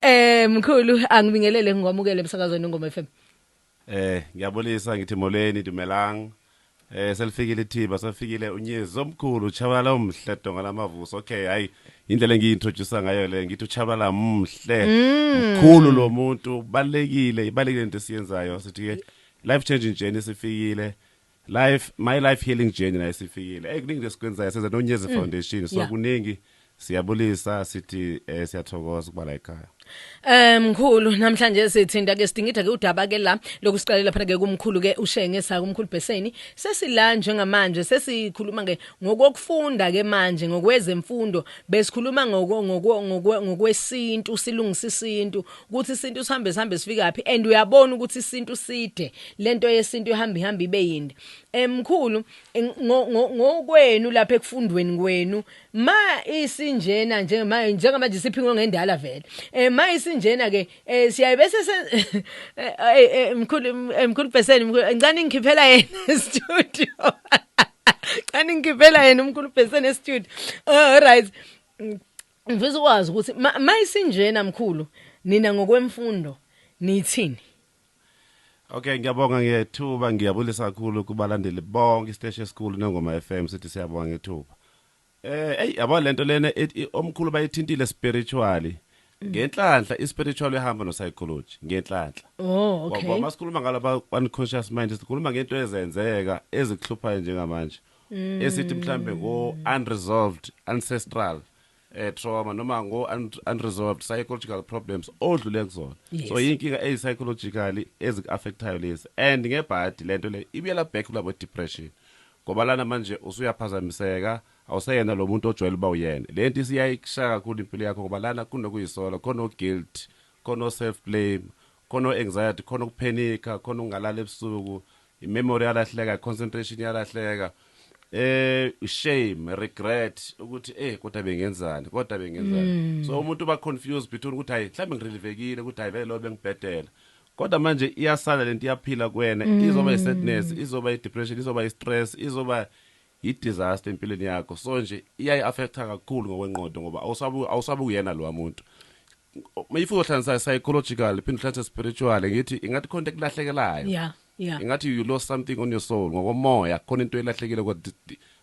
Eh mkhulu angibingelele ngikwamukele emsakazweni ngoma FM. Eh ngiyabulisa ngithi molweni dumelang. Eh selifikile ithiba sefikile unyezi omkhulu uchabalala omhle donga lamavuso. Okay hayi indlela engiintroduce ngayo le ngithi uchabalala mhle. Mm. Mkhulu lo muntu balekile ibalekile into esiyenzayo sithi ke life changing journey sifikile. Life my life healing journey nayo sifikile. Hey kuningi lesikwenzayo senza noNyezi Foundation so yeah. kuningi siyabulisa sithi eh, siyathokoza ukuba la ekhaya Eh mkhulu namhlanje sithinta ke sidingida ke udaba ke la lokusiqalela phana ke kumkhulu ke ushenge sa kumkhulu Beseni sesila njengamanje sesikhuluma ke ngokokufunda ke manje ngokwezemfundo besikhuluma ngoko ngokwe- ngokwe- ngokwesintu silungisa isintu ukuthi isintu sihambe sihambe sifikaphi and uyabona ukuthi isintu side lento yesintu ihamba ihamba ibe yinde emkhulu ngokwenu lapha ekufundweni kwenu ma isinjena njengama njengamanje siphingwe ngendala vele eh ma isinjena ke eh, siyaye bese eh, eh, emkhulu emkhulu person ngicane ngikhiphela yena studio Cani ngivela yena umkhulu Bheseni e-studio. All right. Ngifisa ukwazi ukuthi ma, ma isinjena mkhulu nina ngokwemfundo nithini? Okay ngiyabonga ngethuba ngiyabulisa kakhulu kubalandeli bonke isiteshi esikhulu nengoma FM sithi siyabonga ngethuba. Eh hey yabo lento lena omkhulu bayithintile spiritually. Mm. Ngenhlanhla ispiritual ehamba no psychology ngenhlanhla. Oh okay. Ngoba masikhuluma ngalo ba unconscious mind sikhuluma ngento ezenzeka ezikuhluphayo njengamanje. esithi mhlambe ngo unresolved ancestral eh, trauma noma ngo unresolved psychological problems odlule kuzona yes. so yinkinga eyi psychologically ezikuaffectayo lezi and ngebhadi lento le ibuyela back kulabo depression ngoba lana manje usuyaphazamiseka awuseyena lo muntu ojwayele uba uyena le nto isiyayikushaya kakhulu impilo yakho ngoba lana kunokuyisola khona oguilt khona oself blame Khona o anxiety, khona ukuphenikha, khona ukungalali ebusuku, i memory iyalahleka, i concentration iyalahleka. Eh shame, regret ukuthi eh kodwa bengenzani, kodwa bengenzani. So umuntu uba confused between ukuthi hayi mhlawumbe ngirelivekile ukuthi hayi vele lo bengibhedela. Kodwa manje iyasala lento iyaphila kuwena, izoba i sadness, izoba i depression, izoba i stress, izoba Yi disaster empilweni yakho so nje iyayi affecta kakhulu ngokwenqondo ngoba awusabu awusabu kuyena lowa muntu. Mayifu uhlanganisa psychological phinde uhlanganise spiritual ngithi ingathi khona into ekulahlekelayo. Yeah. Yeah. Ingathi you lost something on your soul ngokomoya khona into elahlekile kwa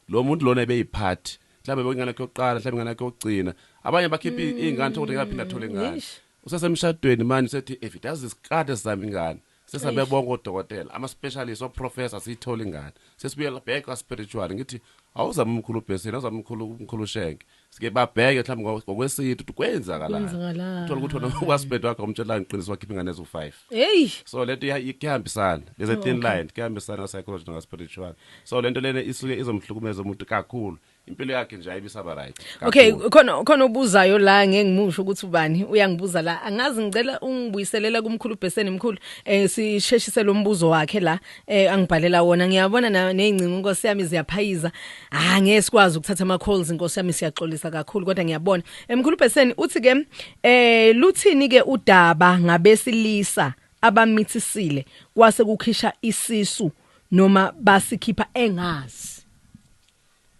lo muntu lona ebeyiphathi mhlawumbe bekuyingane yakhe yokuqala mhlawumbe ingane yakhe yokugcina abanye bakhipha mm. iy'ngane thokuthi ngaphinda athole ingane usesemshadweni manje usethi if it does this kade sizama ingane sesabe bonke odokotela ama-specialist oprofessor siyithole ingane sesibuyela back kwa-spiritual ngithi awuzame umkhulu ubhesini awuzame umkhulu umkhulu ushenke sike babheke mhlawumbe ngokwe- ngokwesintu ukuthi kwenzakalani Kwenzakalani. uthola ukuthi wena ukwasibhedi wakhe umtshelanga iqiniso wakhipha ingane eziwu-five heyi so lento iya- i- kuyahambisana there's a thin line kuyahambisana ka-psychology naka-spiritual so lento lena isuke izomhlukumeza umuntu kakhulu impilo yakhe nje ayibisaba right okay khona khona obuzayo la ngeke ngimusho ukuthi ubani uyangibuza la angazi ngicela ungibuyiselela kumkhulu Beseni mkhulu eh sisheshise lo mbuzo wakhe la eh angibhalela wona ngiyabona nezingcingo inkosi yami ziyaphayiza ah ngeke sikwazi ukuthatha ama calls inkosi yami siyaxolisa kakhulu kodwa ngiyabona emkhulu eh, Beseni uthi ke eh luthini ke udaba ngabesilisa abamithisile kwase kukhisha isisu noma basikhipha engazi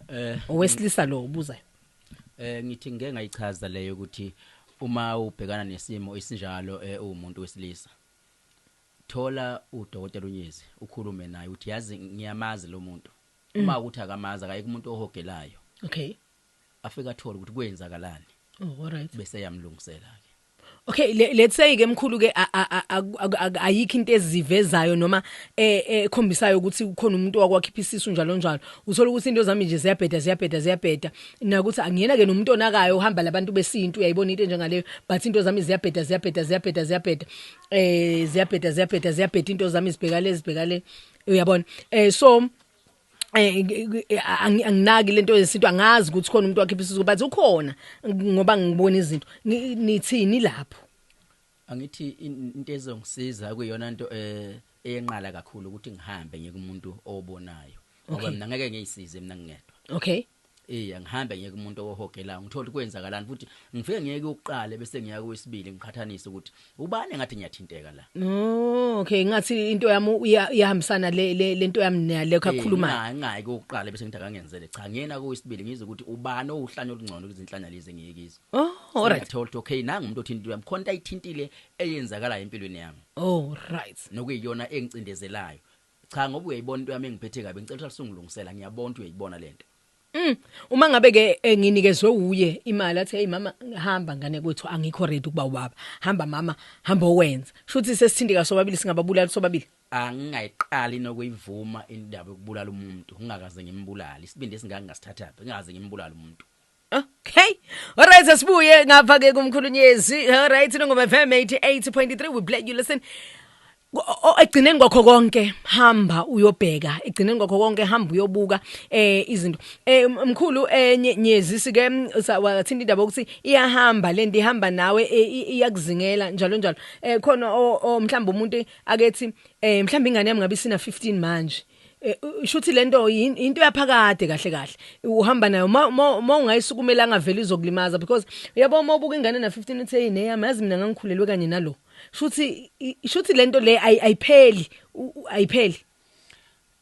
Eh owesilisa lo ubuzayo. Eh ngithi ngeke ngayichaza leyo ukuthi uma ubhekana nesimo isinjalo eh, umuntu wesilisa thola udokotela unyezi ukhulume naye uthi yazi ngiyamazi lo muntu mm. uma ukuthi akamazi akayike umuntu ohogelayo okay afika athola ukuthi kwenzakalani oh all right bese yamlungisela ke Okay le, let's say ke mkhulu ke ayikho into ezivezayo noma eh, eh, ekhombisayo ukuthi ukhona umuntu wakwakhipha isisu njalo njalo uthola ukuthi into zami nje ziyabheda ziyabheda ziyabheda nakuthi angiyena ke nomuntu onakayo uhamba labantu besintu uyayibona into njengaleyo but into zami ziyabheda ziyabheda ziyabheda ziyabheda eh ziyabheda ziyabheda ziyabheda into zami zibhekale zibhekale uyabona eh so eh, eh, eh anginaki lento yesintu angazi ukuthi khona umuntu wakhipha isizo but ukhona ngoba ngibona izinto nithini lapho angithi into ezongisiza kuyona into eh eyenqala kakhulu ukuthi ngihambe ngikumuntu obonayo ngoba mina ngeke ngiyisize mina ngingedwa okay Eyi angihambe ngiyeke umuntu owohogelayo ngithole ukuthi kwenzakalani futhi ngifike ngiyeke ukuqala bese ngiya kowesibili ngiqhathanise ukuthi ubani engathi ngiyathinteka la. Oh okay ngathi into yami iyahambisana le lento yami nale kakhuluma. Cha ngayi kokuqala bese ngitha kangenzele cha ngiyena kowesibili ngizwe ukuthi ubani owuhlanya olungcono kuzinhlanya lezi engiyekizo. Oh alright. Ngithola ukuthi okay nangu umuntu othinta into yami khona into ayithintile eyenzakalayo empilweni yami. Oh right. Nokuyiyona engicindezelayo. Cha ngoba uyayibona into yami engiphethe kabi ngicela uhlale sungilungisela ngiyabona ukuthi uyayibona lento. Mm. Uma ngabe ke eh, nginikezwe uye imali athi hey mama hamba ngane kwethu angikho ready ukuba ubaba. Hamba mama, hamba owenza. Shuthi sesithindeka sobabili singababulala sobabili. angingayiqali nokuyivuma indaba yokubulala umuntu ngingakaze ngimbulale isibindi esingaka ngasithathaphi ngingakaze ngimbulale umuntu Okay. Alright asibuye ngapha ke kumkhulunyezi. Alright nongoma FM 88.3 we play you listen. Egcineni kwakho konke hamba uyobheka egcineni kwakho konke hamba uyobuka eh izinto eh mkhulu enye eh, nyezi sike wathinta indaba ukuthi iyahamba lento ihamba nawe eh, iyakuzingela njalo njalo eh khona mhlawumbe umuntu akethi eh mhlawumbe ingane yami ngabe sina 15 manje Eh, shuthi lento yin- into yaphakade kahle kahle uhamba nayo ma ma- ma ungayisukumela angaveli izokulimaza because uyabo uma ubuka ingane na 15 uthi hey neyami yazi mina ngangikhulelwe kanye nalo shuthi i- shuthi lento le ayi- ayipheli u- u- ayipheli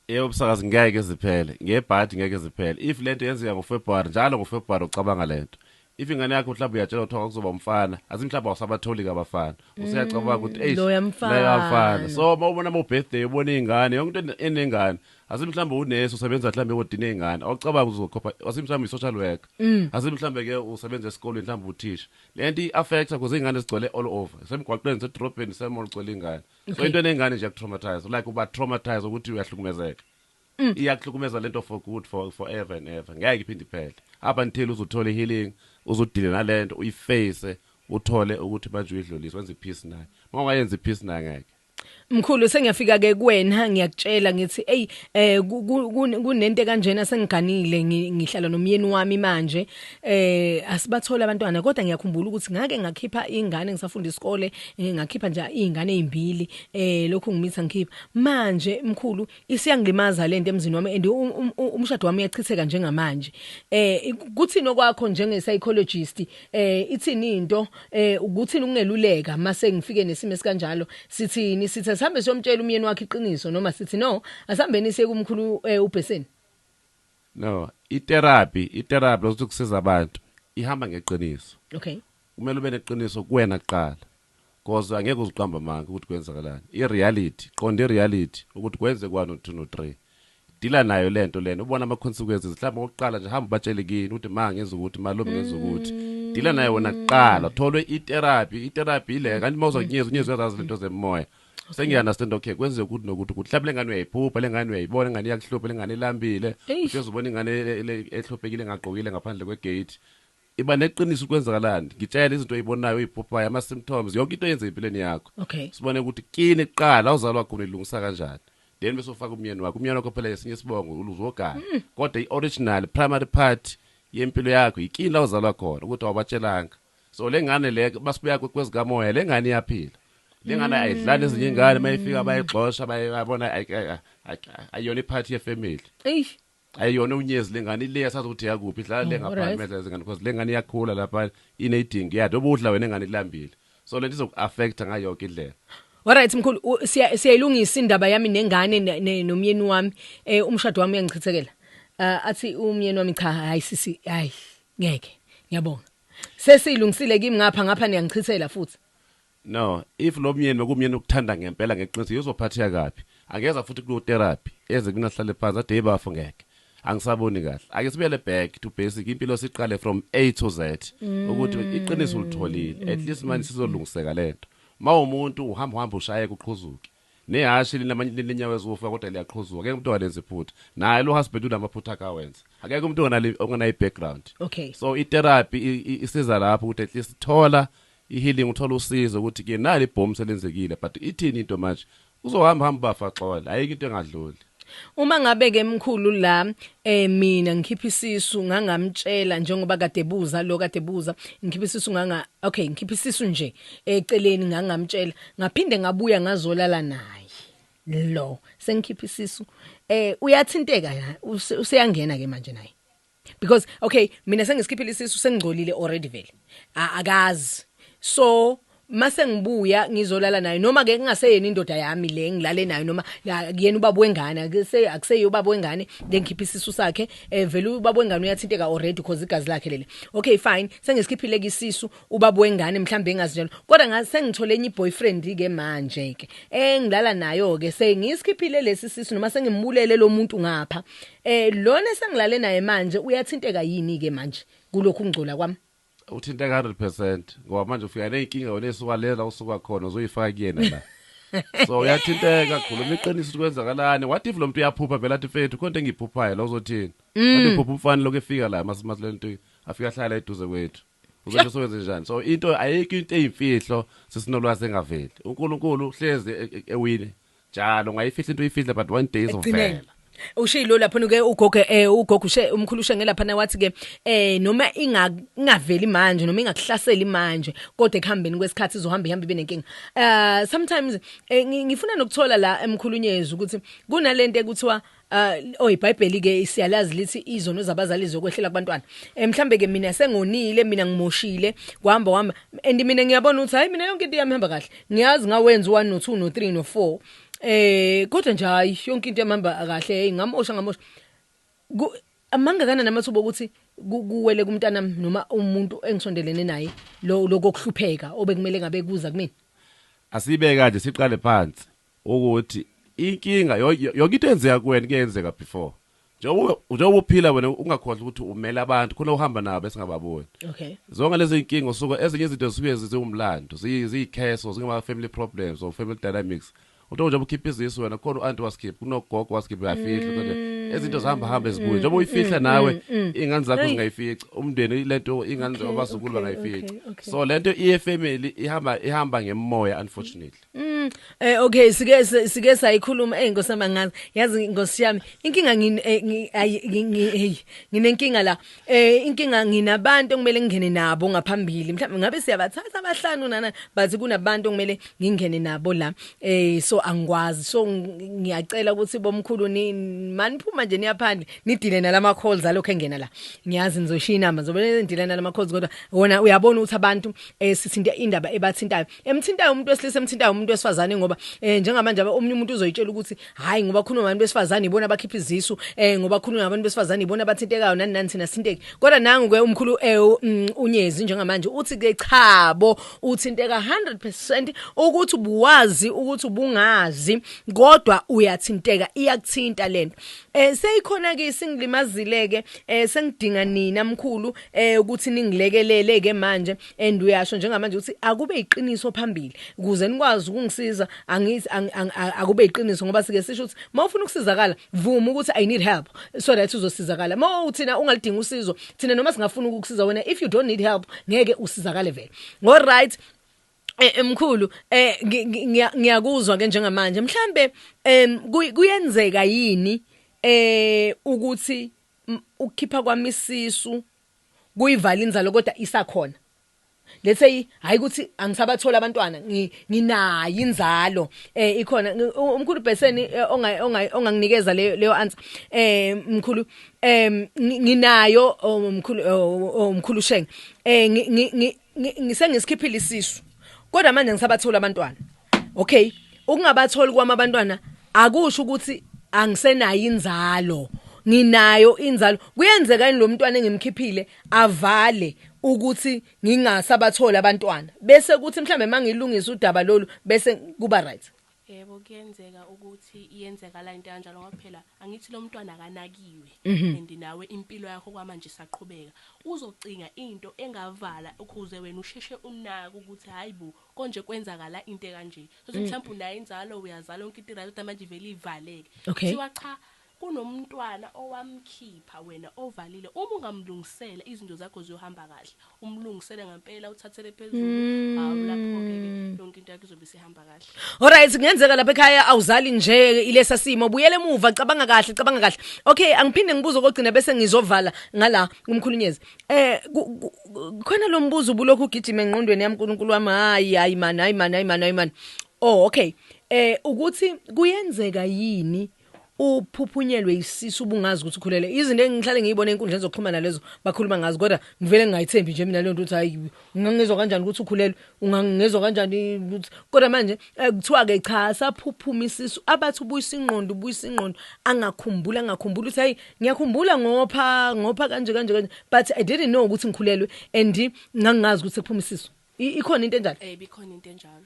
yebo msakazi ngeke ziphele ngebhadi ngeke ziphele if lento yenzeka ngofebruary njalo ngofebruary ucabanga lento if ingane yakho mhlawumbe uyatshelwa kuthiwa kwakuzoba umfana athi mhlawumbe awusabatholi kabafana useyacabanga ukuthi Mm, eish loya mfana. loya mfana so uma ubona ama-birthday ubona iy'ngane yonke into ene- enengane asi mhlawumbe unesi usebenza mhlawumbe ekodini ey'ngane awucabanga ukuthi uzokhopha asi mhlawumbe i-social worker Mm. asi mhlawumbe-ke usebenza esikolweni mhlawumbe uthisha le nto i-affecta because iy'ngane zigcwele all over semgwaqweni sedrobheni semol gcwele iy'ngane so Okay. into eney'ngane nje yakutraumatise like uba-traumatise ukuthi uyahlukumezeka Mm. iyakuhlukumeza lento for good for forever and ever ngeke iphinde iphele up until uzothola healing uzodile nalento uyiface uthole ukuthi manje uyidlulisa wenza ipeace naye uma ungayenza ipeace naye ngeke Mkhulu sengiyafika ke kuwena ngiyakutshela ngithi ey eh kunento kanjena sengiganile ngihlala nomyeni wami manje eh asibathola abantwana kodwa ngiyakhumbula ukuthi ngake ngakhipha ingane ngisafunda isikole eh, ngakhipha nje izingane ezimbili eh lokho ngimitha ngikhipha manje mkhulu isiyangilimaza lento emzini wami and um, um, um, umshado wami uyachitheka njengamanje eh kuthini okwakho njenge psychologist eh ithini into eh ukuthini ukungeluleka mase ngifike nesimo esikanjalo sithini sithe sihambe siyomtshela umyeni wakhe iqiniso noma sithi no asihambeni siye kumkhulu eh, ubheseni no itherapy itherapy lokuthi kusiza abantu ihamba ngeqiniso okay Kumele ube neqiniso kuwena kuqala coz angeke uziqambe amanga ukuthi kwenzakalani i reality qonda i reality ukuthi kwenzeka one no two no three dila nayo lento lena ubona ama consequences mhlawumbe okokuqala nje hamba ubatshele kini ukuthi ma ngenza ukuthi ma lomi ngenza ukuthi dila nayo wena kuqala tholwe i therapy i therapy ile kanti uma uzokunyeza unyeza uyazazi lento zemoya sengiya understand okay kwenzeka ukuthi nokuthi ukuthi mhlawumbe lengane uyayiphupha lengane uyayibona ingane iyakuhlupha lengane ilambile Eish. uhlezi ubona ingane le- le- ehluphekile engagqokile ngaphandle kwegate Iba neqiniso ukuthi kwenzakalani. Ngitshele izinto oyibonayo, oyiphuphayo, ama symptoms, yonke into oyenza empilweni yakho. Okay. Sibone ukuthi kini kuqala la uzalwa khona ilungisa kanjani. Then bese ufaka umyeni wakho. Umyeni wakho phela esinye isibongo uluzogana. Mm. Kodwa ioriginal primary part yempilo yakho yikini la uzalwa khona ukuthi awubatshelanga. So lengane le basibuya kwezikamoya lengane iyaphila. Lengane mm. ayidlali ezinye ingane mayifika bayigxosha bayabona ayona iphathi yefamily. Eish. Hayi yona unyezi lengane ile yasazi ukuthi yakuphi idlala le ngapha right. imedla izingane because lengane iyakhula lapha inedingi yathi obudla wena ingane ilambile so lento izoku affect ngayo yonke indlela Alright mkhulu u- siya- siyayilungisa indaba yami nengane ne- ne- nomyeni wami eh umshado wami uyangichithekela. Uh, athi umyeni wami cha hayi sisi hayi ngeke ngiyabonga. Sesilungisile kimi ngapha ngapha niyangichithela futhi. No if lomyeni bekumyeni okuthanda ngempela ngeqiniso yozophatheka kabi angeza futhi kuyo therapy eze kumina sihlale phansi athi hey bafo ngeke angisaboni kahle ake sibuyele back to basic impilo siqale from A to Z ukuthi iqiniso ulitholile at least manje sizolungiseka lento mawumuntu uhamba uhamba ushaye kuqhuzuke Nehhashi linamanye linenyawo eziwufa kodwa liyaqhuzuka ngeke umuntu ongalenzi iphutha naye lo husband unamaphutha akhe awenza akekho umuntu onganali onganayi background Okay. so i therapy i- i- isiza lapho ukuthi at least thola i healing uthola usizo ukuthi ke nali ibhomu selenzekile but ithini into manje uzohamba hamba bafa xola ayikho into engadluli Uma ngabe ke mkhulu la eh mina ngikhipha isisu ngangamtshela njengoba kade buza lo kade buza ngikhipha isisu nganga okay ngikhipha isisu nje eceleni ngangamtshela ngaphinde ngabuya ngazolala naye lo sengikhipha isisu eh uyathinteka useyangena ke manje naye because okay mina sengisikhiphile isisu sengigcolile already vele A- akazi so mase ngibuya ngizolala nayo noma ke kungaseyena indoda yami le ngilale nayo noma ya- kuyena ubaba wengane akuse- akuseyiyo ubaba wengane lengikhipha isisu sakhe eh vele ubaba wengane uyathinteka already because igazi lakhe leli okay fine sengisikhiphile ke isisu ubaba wengane mhlawumbe engazi njalo kodwa ngathi sengithole enye boyfriend ke manje ke engilala nayo ke sengisikhiphile lesi sisu noma sengimbulele lo muntu ngapha Eh lona esengilale naye manje uyathinteka yini ke manje kulokhu kungcola kwami? Uthinteka 100 percent ngoba manje ufika ney'nkinga wena ey'suka le la usuka khona uzoyifaka kuyena la. So uyathinteka khuluma iqiniso ukuthi kwenzakalani. What if lo muntu uyaphupha vele athi mfethu khona into engiyiphuphayo la uzothini? Kanti uphupha umfana lokhu efika la masimasilento afika ahlala eduze kwethu. Uzosho sowenze njani? So into ayikho into eyimfihlo sesinolwazi engaveli. UNkulunkulu uhlezi e- e- ewine. Njalo ngayifihla into uyifihle but one day Ekugcineni. izovela. ushilo lapho ke ugogo eh ugogo ushe umkhulu ushenge lapha na wathi ke eh noma inga ingaveli manje noma ingakuhlaseli manje kodwa ekuhambeni kwesikhathi izohamba ihamba ibe nenkinga uh sometimes eh, ngi- ngifuna nokuthola la emkhulunyezi ukuthi kunalento ekuthiwa Uh, oh iBhayibheli ke siyalazi lithi izono zabazali zokwehlela kubantwana. Eh mhlambe ke mina sengonile mina ngimoshile kuhamba wami and mina ngiyabona ukuthi hayi mina yonke into yami ihamba kahle. Ngiyazi ngawenza u1 no 2 no 3 no 4. Eh kodwa nje hayi yonke into yami ihamba kahle hey ngamosha ngamosha. Amanga kana namathuba ukuthi kuwele kumntana noma umuntu engisondelene naye lo lokuhlupheka obekumele ngabe kuza kumina. Asibe kanje siqale phansi. ukuthi inkinga yo- yo- yonke into eyenzeka kuwena ike yenzeka before njengoba ube- njengoba uphila wena ungakhohlwa ukuthi umele abantu khona uhamba nabo esingababoni okay zonke lezi nkinga usuke ezinye izinto zisuke zi- ziwumlando ziyi- ziyikheso zingama-family problems or family dynamics uthi njengoba ukhipha izisu wena khona u-anti wasikhipha kunogogo wasikhipha uyafihla kodwa izinto zihamba hamba ezibuye njengoba uyifihla nawe iy'ngane zakho Hey. zingayifici umndeni le nto iy'ngane Okay, abazukulu okay, bangayifici okay, okay. so le nto iye-family ihamba ihamba ngemoya unfortunately Mm, eh okay sike sike sayikhuluma hey Nkosi yami ngazi yazi Nkosi yami inkinga eh, ngine hey nginenkinga la eh inkinga nginabantu okumele ngingene nabo ngaphambili mhlawumbe ngabe siyabathatha abahlanu nana but kunabantu okumele ngingene nabo la eh so angikwazi so ngiyacela ukuthi bomkhulu ni maniphuma nje niyaphandle nidile nalama calls alokho engena la ngiyazi nizoshiya inamba zobe nidile nalama calls kodwa wona uyabona ukuthi abantu eh sithinta indaba ebathintayo emthintayo umuntu wesilisa emthintayo umuntu wesifazane ngoba eh njengamanje omunye umuntu uzoyitshela ukuthi hayi ngoba khona abantu besifazane ibona abakhipha izisu eh ngoba khona abantu besifazane ibona abathintekayo nani nani thina sinteki kodwa nangu ke umkhulu eh mm, unyezi njengamanje uthi ke cha bo uthinteka 100% ukuthi ubuwazi ukuthi ubungazi kodwa uyathinteka iyakuthinta lento eh seyikhona ke singilimazile ke eh sengidinga nina mkhulu eh ukuthi ningilekelele ke manje and uyasho njengamanje ukuthi akube iqiniso phambili kuze nikwazi ukungisiza angithi ang- ang- a- akube iqiniso ngoba sike sisho ukuthi uma ufuna ukusizakala vuma ukuthi i need help so that uzosizakala uma uthina ungalidingi usizo thina noma singafuna ukukusiza wena if you don't need help ngeke usizakale vele ngo right Eh, eh, mkhulu eh ngi- ngi- ngiya- ngiyakuzwa ke njengamanje mhlambe em kuy- kuyenzeka yini eh ukuthi m- ukukhipha kwami isisu kuyivala inzalo kodwa isakhona let's say hayi ukuthi angisabatholi abantwana nginayi inzalo eh ikhona umkhulu Beseni eh, onga onganginikeza leyo leyo answer eh mkhulu em nginayo oh, mkhulu oh, oh, mkhulu Shenge eh ngi- ngisengisikhiphile isisu kodwa manje ngisabatholi abantwana okay ukungabatholi kwami abantwana akusho ukuthi angisenayo inzalo nginayo inzalo kuyenzeka yini lo mntwana engimkhiphile avale ukuthi ngingasabatholi abantwana bese kuthi mhlawumbe uma ngilungisa udaba lolu bese kuba right Yebo kuyenzeka ukuthi iyenzakala into ekanjalo ngoba phela angithi lomntwana akanakiwe and nawe impilo yakho kwamanje isaqhubeka. Uzocinga into engavala ukuze wena usheshe unake ukuthi hhayi bo konje kwenzakala into ekanje. Thola ukuthi mhlawumbe unayo inzalo, uyazala yonke into iryt kodwa manje ivele ivaleke. Okay. Kuthiwa cha Kunomntwana owamkhipha wena ovalile uma ungamlungisela izinto zakho ziyohamba kahle umlungisele ngampela uthathele phezulu hawu laphoke ke Mm. yonke into yakho izobe isihamba kahle. Alright kungenzeka lapha ekhaya awuzali nje ilesa simo buyele emuva cabanga kahle cabanga kahle okay angiphinde ngibuze okugcina bese ngizovala ngala kumkhulunyezi eh ku- ku- ku- khona lo mbuzo ubulokhu ugijima engqondweni yami uNkulunkulu wami hayi hayi man hayi man hayi man hayi man oh okay eh ukuthi kuyenzeka yini uphuphunyelwe isisu ubungazi ukuthi ukhulele izinto engihlale ngiyibona enkundleni zokuxhumana lezo bakhuluma ngazi kodwa ngivele ngingayithembi nje mina leyo nto ukuthi hayi ungangizwa kanjani ukuthi ukhulelwe ungangizwa kanjani ukuthi kodwa manje eh, kuthiwa ke cha saphuphuma isisu abathi ubuyisa ingqondo ubuyisa ingqondo angakhumbula angakhumbula ukuthi hayi ngiyakhumbula ngopha ngopha kanje kanje kanje but i didn't know ukuthi ngikhulelwe and ngangingazi ukuthi sekuphuma isisu I- ikhona into enjalo eh bikhona into enjalo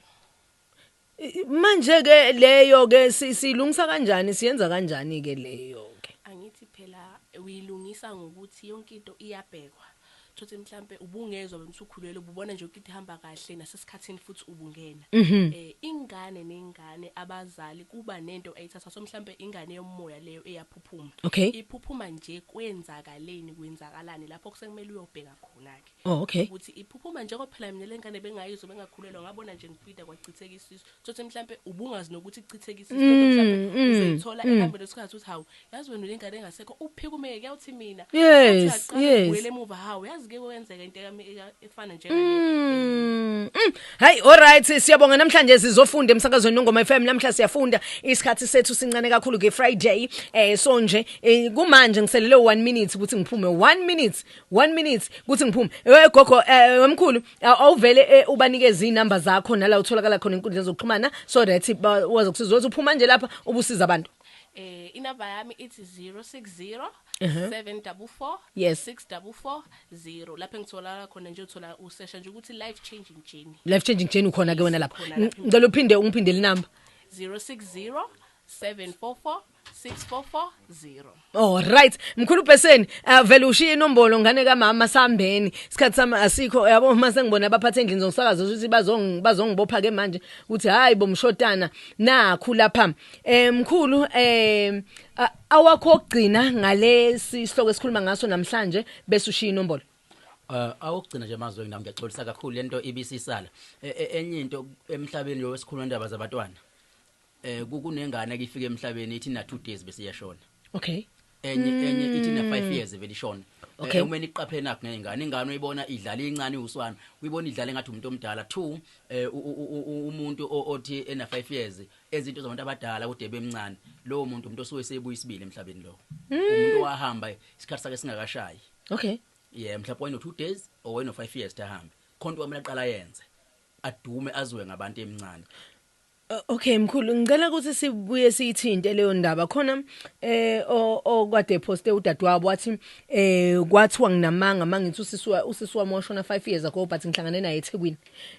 Manje ke leyo ke silungisa kanjani siyenza kanjani ke leyo ke? Angithi phela uyilungisa ngokuthi yonke into iyabhekwa. Thothi mhlambe ubungezwa wena usukhulelwe ububona nje ukuthi ihamba kahle nasesikhathini futhi ubungena. Mhm. Eh ingane nengane abazali kuba nento ayithatha so mhlambe ingane yomoya leyo eyaphuphuma. Okay. Iphuphuma nje kwenzakaleni kwenzakalani lapho kusekumele uyobheka khona ke. Oh okay. ukuthi iphuphuma njengoba phela mina lengane bengayizwa bengakhulelwa ngabona nje ngibhida kwachitheka isisu thothi mhlambe ubungazi nokuthi kuchitheka isisu kodwa Mm, mhlambe mm, uzoyithola mm. ehambeni lesikhathi uthi hawu yazi wena ulengane engasekho uphikumeke kuyawuthi mina Yes, Uthi aqale yes. ubuyele emuva hawu yazi ke kwenzeka into yami eka- efana njengale Mm, mm. Hayi alright siyabonga namhlanje sizofunda emsakazweni nongoma FM namhla siyafunda isikhathi sethu sincane kakhulu ke Friday eh so nje eh, kumanje ngiselele 1 minute ukuthi ngiphume 1 minute 1 minute kuthi ngiphume we gogo eh, wemkhulu aw- awuvele eh, ubanikeze inamba zakho nala utholakala khona inkundla zokuxhumana so that ba- wazi ukusiza ukuthi uphuma nje lapha ubusiza abantu Eh inamba yami ithi 060 744 Yes. 6440 lapho engitholakala khona nje uthola usesha nje ukuthi life changing journey life changing journey ukhona ke wena lapha Khona lapha. ngicela uphinde ungiphindele inamba 060 744 6440 Oh right mkhulu Beseni uh, vele ushiye inombolo ngane kamama sambeni isikhathi sami asikho yabo uma sengibona abaphathe endlini zomsakazo ukuthi bazong bazongibopha ke manje ukuthi hayi bomshotana nakhu lapha eh mkhulu eh a- awakho ogcina ngalesi sihloko esikhuluma ngaso namhlanje bese ushiya inombolo Uh, awokugcina nje mazwe nami ngiyaxolisa kakhulu lento ibisisala. E- e- Enye into emhlabeni lo wesikhuluma indaba zabantwana. Eh ku- kunengane ke ifike emhlabeni ithi na 2 days bese iyashona. okay Enye enye ithi na 5 years vele ishona. Mm. Okay. Eh, Uma niqaphele nakho ngengane ingane uyibona idlala incane uswana. Uyibona idlala engathi umuntu omdala. Two eh u- u- u- u- umuntu o- othi ena 5 years ezinto zabantu abadala kude bemncane. Lowo muntu umuntu osuke sebuya isibili emhlabeni lo. Mm. Umuntu wahamba isikhathi sakhe singakashayi. okay yeah mhlawumbe wayeno 2 days or wayeno 5 years tahambe khonto wamele aqala yenze adume azwe ngabantu emncane Okay mkhulu ngicela ukuthi sibuye siyithinte leyo ndaba khona eh okwade poste udadewabo wathi eh kwathiwa nginamanga mangithi usiswa usiswa moshona 5 years ago but ngihlangane naye eThekwini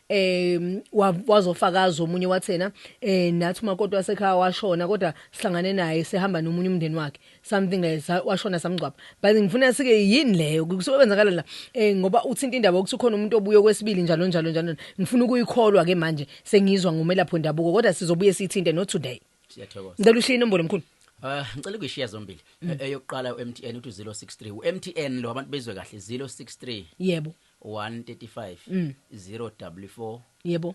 eh wazofakaza omunye wathena eh nathi umakoti wasekhaya washona kodwa sihlangane naye sihamba nomunye umndeni wakhe something like sa- washona samngcwaba but ngifuna sike yini leyo kusuke kwenzakala la eh ngoba uthinta indaba ukuthi ukhona umuntu obuye kwesibili njalo njalo njalo ngifuna ukuyikholwa ke manje sengizwa ngomelapho ndabuko kodwa sizobuye sithinte not today siyathokoza ngicela ushiye inombolo mkhulu Uh, ngicela ukuyishiya zombili E- eyokuqala u-mtn uthi 063 u-mtn lo abantu bezwe kahle 063 yebo 135 044 yebo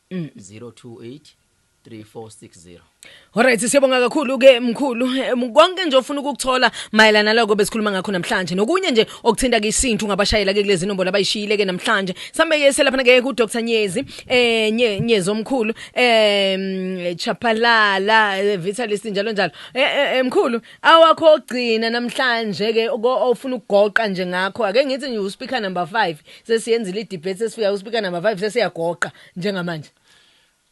028 Alright siyabonga kakhulu ke mkhulu Eh, konke nje ofuna ukukuthola mayelana naloko besikhuluma ngakho namhlanje nokunye nje okuthinta ke isintu ungabashayela ke kulezi nombolo abayishiyile ke namhlanje sambe ke selapha ke ku Dr Nyezi eh nye, Nyezi omkhulu eh mm, Chapalala eh, Vitalist njalo njalo eh, eh, eh, mkhulu awakho ogcina namhlanje ke oko- ofuna ukugoqa nje ngakho ake ngithi nje u speaker number 5 sesiyenzile i-debate sesifika uspika nama-vibe sesiyagoqa njengamanje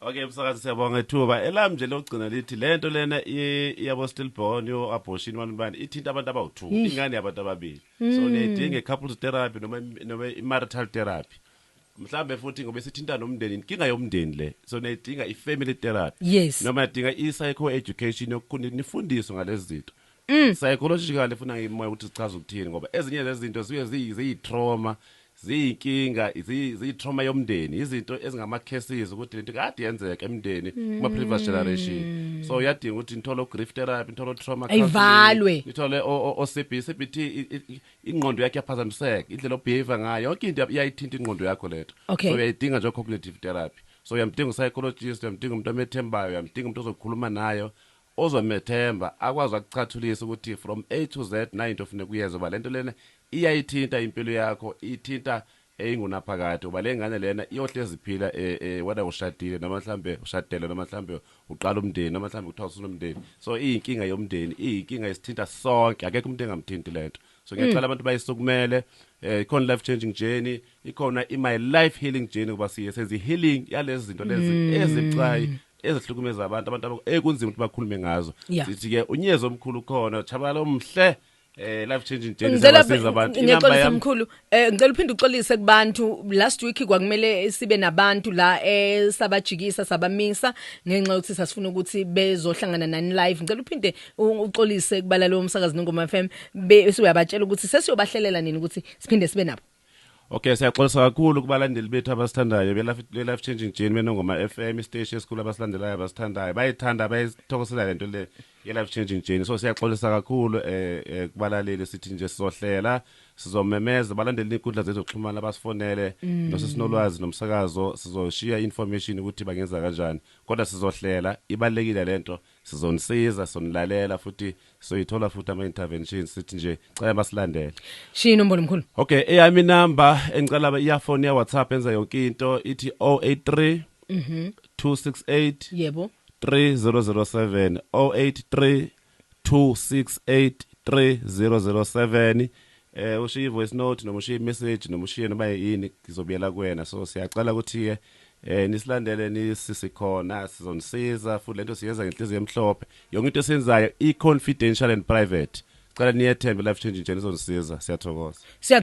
Okay msakazi siyabonga ithuba elam nje lokugcina lithi lento lena i- iyabo stillborn yo abortion wani bani ithinta abantu abawu2 Eish. ingane yabantu ababili so Mm. niyayidinga couples therapy noma im- noma i-marital therapy mhlambe futhi ngoba sithinta nomndeni inkinga yomndeni le so niyayidinga i-family therapy Yes. noma niyadinga i-psycho education yokukhuni nifundiswe ngalezi zinto Mm. Psychologically funa imoya ukuthi sichaza ukuthini ngoba ezinye zezinto ziye ziyi- ziyi-trauma ziyinkinga ziyi- ziyi-trauma yomndeni izinto ezingama-cases ukuthi lento kade yenzeka emndeni kuma-previous generation so uyadinga ukuthi nithole o-grief therapy nithole o-trauma counselling, Ayivalwe. nithole o- o- o-cb cbt i- i- i- ingqondo yakhe yaphazamiseka indlela obehave ngayo yonke into iyayithinta ingqondo yakho lento Okay. so uyayidinga nje o-cognitive therapy so uyamdinga u-psychologist uyamdinga umuntu omethembayo uyamdinga umuntu ozokhuluma nayo Ozomethemba akwazi akucathulise ukuthi from A to Z nayi into ofuneka uyenze ngoba lento lena iyayithinta impilo yakho ithinta eyingunaphakade ngoba lengane lena iyohlezi iphila whether ushadile noma mhlambe ushadelwe noma mhlambe uqala umndeni noma mhlambe kuthiwa usunomndeni so iyinkinga yomndeni iyinkinga esithinta sonke akekho umuntu engamthinti lento. so ngiyacela abantu bayisukumele eh ikhona life changing journey ikhona i my life healing journey kuba siye senza i healing yalezi zinto lezi ezibucayi ezihlukumeza abantu abantu abo- ekunzima ukuthi bakhulume ngazo Yeah. sithi ke unyezo omkhulu khona chabalala omhle eh life changing journey ngicela ziyabasiza abantu inamba ngixolise yami mkhulu eh ngicela uphinde uxolise kubantu last week kwakumele sibe nabantu la esabajikisa sabamisa ngenxa yokuthi sasifuna ukuthi bezohlangana nani live ngicela uphinde uxolise kubala lo msakazi nongoma FM bese uyabatshela ukuthi sesiyobahlelela nini ukuthi siphinde sibe nabo Okay siyaxolisa kakhulu kubalandeli bethu abasithandayo be life changing journey benongoma FM station esikhulu abasilandelayo abasithandayo bayithanda bayithokosela lento le ye life changing journey so siyaxolisa kakhulu eh, eh kubalaleli sithi nje sizohlela sizomemeza balandeli inkundla zethu zokuxhumana basifonele mm. nosesinolwazi nomsakazo sizoshiya information ukuthi bangenza kanjani kodwa sizohlela ibalekile lento Sizonisiza, sonilalela futhi soyithola futhi ama interventions sithi nje cela basilandele. Shiya inombolo mkhulu. Okay, eyami number engicela ba earphone ya WhatsApp enza yonke into ithi 083 Mhm. 268 Yebo. 3007 083 268 3007 eh ushiye voice note noma ushiye message noma ushiye noma yini ngizobuyela kuwena so siyacela ukuthi ke Eh nisilandele nisi sikhona sizonisiza futhi lento siyenza ngenhliziyo emhlophe. Yonke into esiyenzayo i confidential and private. Cela niyethembe life changing nje nizonisiza. Siyathokoza. Siya